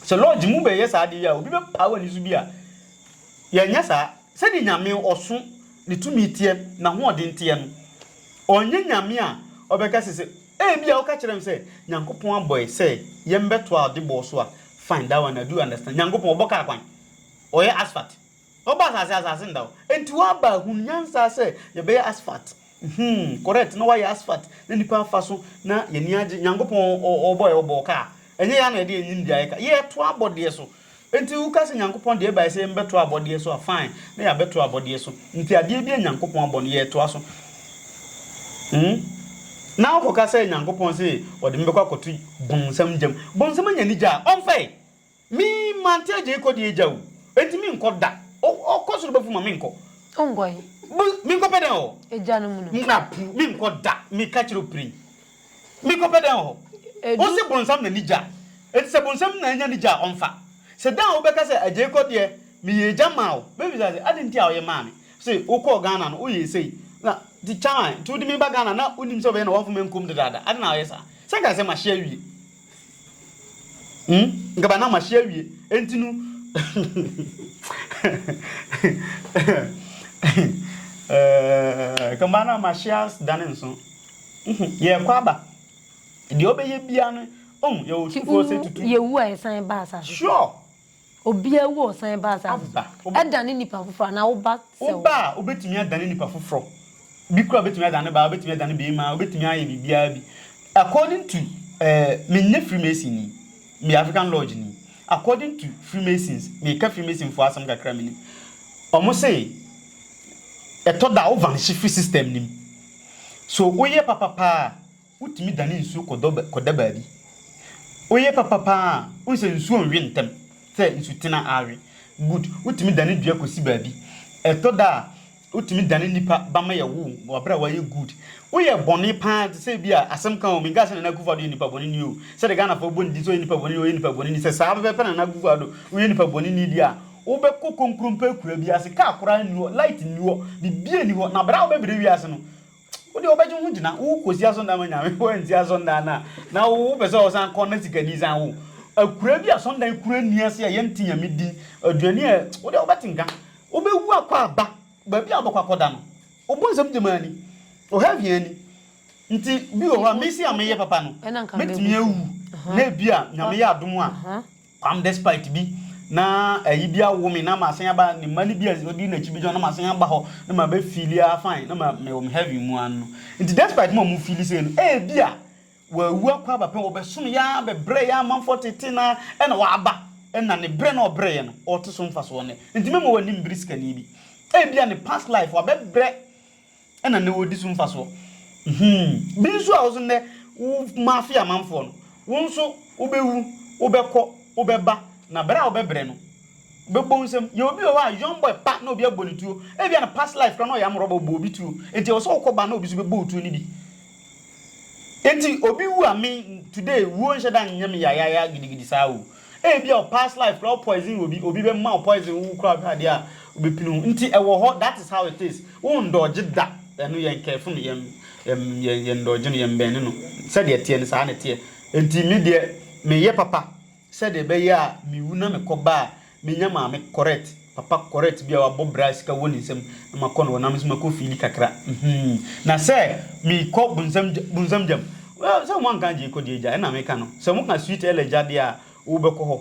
sɛ lodge mo bɛ yɛ saa adeɛ yi a obi bɛ paa wani so bi a yɛ nyɛ saa sɛdeɛ Nyame ɔso ne tumi teɛ, n'ahoɔden teɛ no. Ɔnyɛ Nyame a ɔbɛka sɛ sɛ ebia woka kyerɛ no sɛ Nyankopɔn abɔ yɛ sɛ yɛmbɛtoa ɔde bɔɔ so a, fine that one I do understand. Nyankopɔn ɔbɔ kaa kwan, ɔyɛ asphalt. Ɔbɔ asase a, asase nda hɔ. Enti w'aba ahunu nyansa sɛ yɛbɛyɛ asphalt. Mhmm, correct, na w'ayɛ asphalt na nnipa afa so na yɛn ani agye. Nyankopɔn ɔbɔ yɛ, ɔbɔɔ kaa. Ɛnyɛ yɛn na yɛde yɛn nimdeɛ ayɛ kaa. Yɛtoa abɔdeɛ so. Enti woka sɛ Nyankopɔn de ɛbae sɛ yɛmmɛtoa abɔdeɛ so a, fine, na yɛabɛtoa abɔdeɛ so. Enti adeɛ bi a Nyankopɔn abɔ no, yɛretoa so. Hmm? Na wokɔka sɛ Nyankopɔn se ɔde me bɛkɔ akɔto bonsam gyam. Bonsam anya ne gya a, ɔmfa ɛ. Me, mante agya yi kɔ deɛ agya o. Enti menkɔ da. O, ɔkɔ soro bɛfom a, menkɔ. Wonkɔ he? Bo, menkɔpɛ dɛn wɔ. Agya no mu no? Mmra puu, menkɔ da. Meka kyerɛ wo pirim. Me kɔ pɛ dɛn wɔ hɔ? Wo se bonsam na ni gya a, enti sɛ bonsam na anya ni gya a ɔmfa. Se da a wo bɛka sɛ agyei kɔ deɛ me yɛ agya maa wo, me bisa se adɛn nti a wo yɛ maa me? Se wo kɔɔ Ghana no wo yɛɛ sei na ti kyaman nti wo de me ba Ghana na wo nim sɛ wo bɛyɛ na wɔmfa me nkum dedaada adɛn na wo yɛ saa? Sɛ nka asɛm ahye awie. Hmm? Nka ba na mahye awie. Enti no. Eh, nka ba na mahye asdane nso. Yɛkɔ aba. Deɛ ɔbɛyɛ biara no, ɔhu yɛwɔ sukuo sɛ tutu. Yɛwu a yɛsan ba asase. Sure. Obiara wu a ɔsan ba asase so. Ɛdane nipa foforɔ anaa wo ba sɛ wo. Wo ba a, wobɛtumi adane nipa foforɔ. Bi koraa wobɛtumi adane ne ba, wobɛtumi adane beema, wobɛtumi ayɛ biribiara bi. According to, eh, menyɛ Freemason ni, meyɛ African Lodge ni. According to Freemasons, meka Freemason foɔ asɛm kakra menim. Wɔn se, ɛtɔ da a, wo vanishye firi system no mu. So woyɛ papa paa a, Wotumi dane nsuo kɔda baabi. Woyɛ papa paa a, wohu sɛ nsuo nnwe ntɛm sɛ nsutena awe. Good. Wotumi dane dua kɔsi baabi. Ɛtɔ da a, wotumi dane nnipa ba ma yɛwo wɔn wɔ berɛ a wɔayɛ good. Woyɛ bɔne paa te sɛ ebia, asɛm ka o, menkaa sɛ Nana Akufo-Addo yɛ nipa bɔneni o, sɛdeɛ Ghanafoɔ bɔ ne din sɛ ɔyɛ nipa bɔneni, ɔyɛ nipa bɔneni, sɛ saa pɛpɛɛpɛ Nana Akufo-Addo, woyɛ nipa bɔneni deɛ a, wobɛkɔ konkrompɛ akuraa bi ase, kaa koraa nni hɔ, light nni hɔ, biribiara nni hɔ, na berɛ a wobɛbrɛ wiase no, Wo deɛ wobɛgye wo ho gyina wo kɔsi asɔndan ma nyame wansi asɔndan no a na wo wopɛ sɛ ɔsan kɔ na sikani san wo akura bi asɔndan kura ni ase a yɛnte nyame din aduane a wo deɛ wobɛte nka wobɛwu akɔ aba baabi a wobɛkɔ akɔda no wobɔ nsɛm gyamaa ni ɔha hia ni nti bi wɔ hɔ a mesi a meyɛ papa no mɛtumi awu na ebi a nyame yɛ adom a Kwam despite bi na ayi bi awo me na masan aba ne mma no bi a ɔdi n'akyi bi gyina na masan aba hɔ na ma bɛ feeli ah fine na ma mewɔ me heaven mu ano no nti despite ma ɔmo feeli sei no ebi a wawu akɔ aba pɛn wɔbɛsom yɛ ara bɛbrɛ yɛ amanfoɔ tete na ɛna waba ɛna ne brɛ na ɔbrɛ yɛ no ɔte so mfasoɔ nnɛ nti mɛma w'anim bere sikani bi ebi a ne past life wabɛbrɛ na nnɛ wɔredi so mfasoɔ. Hmm. Bi nso a wo nso nnɛ wo mafe amanfoɔ no, wo nso wobɛwu, wobɛkɔ, wobɛba, na berɛ a wobɛbrɛ no, wobɛbɔ wo nsam. Yɛwɔ bi wɔ hɔ a, young boy pa na obi abɔ no tuo. Ebia ne past life koraa na ɔyɛ amorɔba, ɔbɔɔ obi tuo. Enti ɛwɔ sɛ wokɔ ba na obi nso bɛbɔ wo tuo no bi. Enti obi wu a me today wuo nhyɛ da nyɛ me yayaya gidigidi saa o. Ebia wo past life koraa wo poison obi, obi bɛma wo poison wo koraa wohwɛ adeɛ a wobɛpini wo. Nti ɛwɔ hɔ that is how it is. Wo ndɔɔgye da ɛno yɛn careful no, yɛn yɛn yɛn ndɔɔgye no, yɛn bɛnne no. Sɛdeɛ ɛteɛ no saa na ɛteɛ. Enti me deɛ meyɛ papa. Sɛdeɛ ɛbɛyɛ a mewu na mekɔba a, menya maame correct, papa correct bi a wabɔ bra a sika wɔ ne nsam na makɔ no hɔ na me nso makɔ fiili kakra hmm. Na sɛ mekɔ bonsam gya, bonsam gyam, well, sɛ wɔanka agye kɔ deɛ gya, ɛna meka no. Sɛ wɔka sweet ɛlɛ gya deɛ a, wobɛkɔ hɔ.